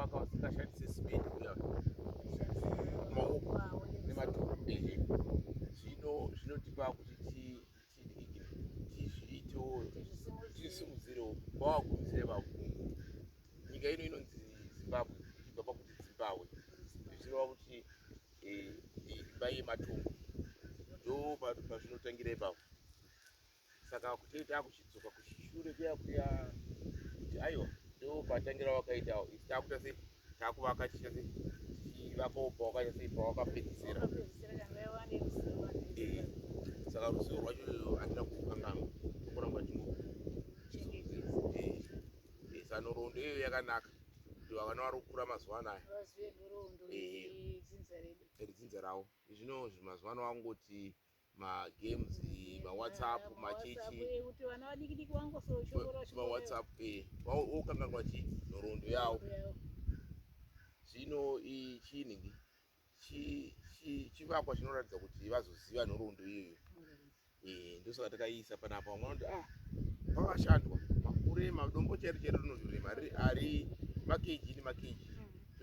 waka wasingashandise simeni uya maoko nematoro ehe zvino zvinotipa kuti tidikike tizviitewo tisimudzirewo vawakumisire vavo nyika ino inonzi zimbabwe ichibva pakuti zimbabwe zvichireva kuti imba eh, yematombo ndo pazvinotangira ipapo saka kutei takuchidzoka kuchishure kuya kuya kuti aiwa ndo patangira wakaita isi takuita sei takuvaka chiita sei tichivakawo pawakaita sei pawakapedzisira eh, saka ruzivo rwacho andina kukanganwa kuramba ndingosanorondo eh, eh, iyoyo yakanaka kuti vakana vari kukura mazuva anaya iri dzinza ravo zvino mazuva ano vangoti magames mawhatsapp machichi mawhatsapp wokanganwa eh, chi nhoroondo yawo zvino chiinhingi chivakwa chinoratidza kuti vazoziva nhoroondo iyoyo eh, ndosaka takaiisa panapa vamwe vanoti ah pakashandwa makurema dombo chairo chairo rinozorema ari makeji nemakejii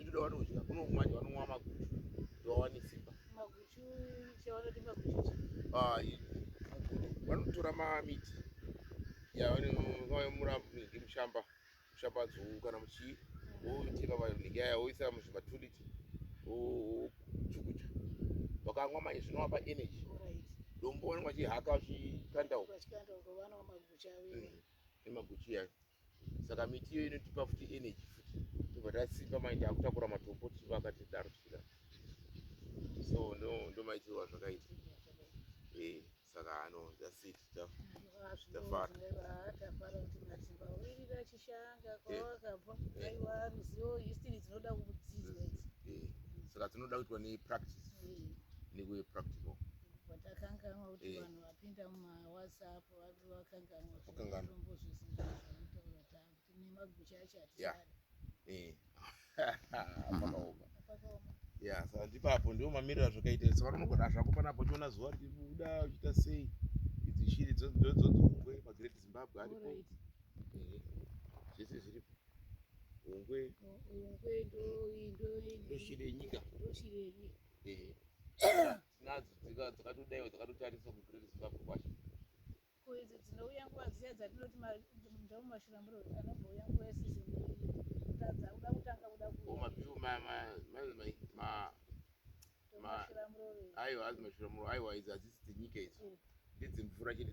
kuda vanodya kunokumanya vanonwa maguchu kuti vawane simba Ayi, vanotora mamiti yavanenge mushamba mushamba dzou kana muchii woitira vanenge yaya woisa muzvimatuliti wochukucha vakamwa manje zvinovapa energy dombo vanenge vachihaka vachikanda uko nemaguchi yayo saka miti iyoyo inotipa futi energy futi tobva tasimba mai taakutakura matombo tichivaka tidaro tichida so ndo ndomaitirwa zvakaita eh, saka ano zasit tafara saka dzinoda kuitwa nepractice nekuye practical vatakanganwa kuti eh. vanhu vapinda mumawhatsapp ndipapo ndiwo mamiriro azvakaita saka unogona zvako panapo uchiona zuva richibuda uchiita sei idzi shiri dzodzungwe magreat zimbabwe aripo zvese zviripo ungwe ndoshiri yenyika tinadzo dzika dzakatodaiwa dzakatotariswa kuGreat Zimbabwe kwacho. Ko idzi dzinouya nguva dziya dzatinoti mundau mashurambure anombouya nguva yesizini kutadza kuda kutanga kuda kumabiu aiwa azi mashuramuro aiwa idzi hadzisi dzenyika idzi ndedzemvura chete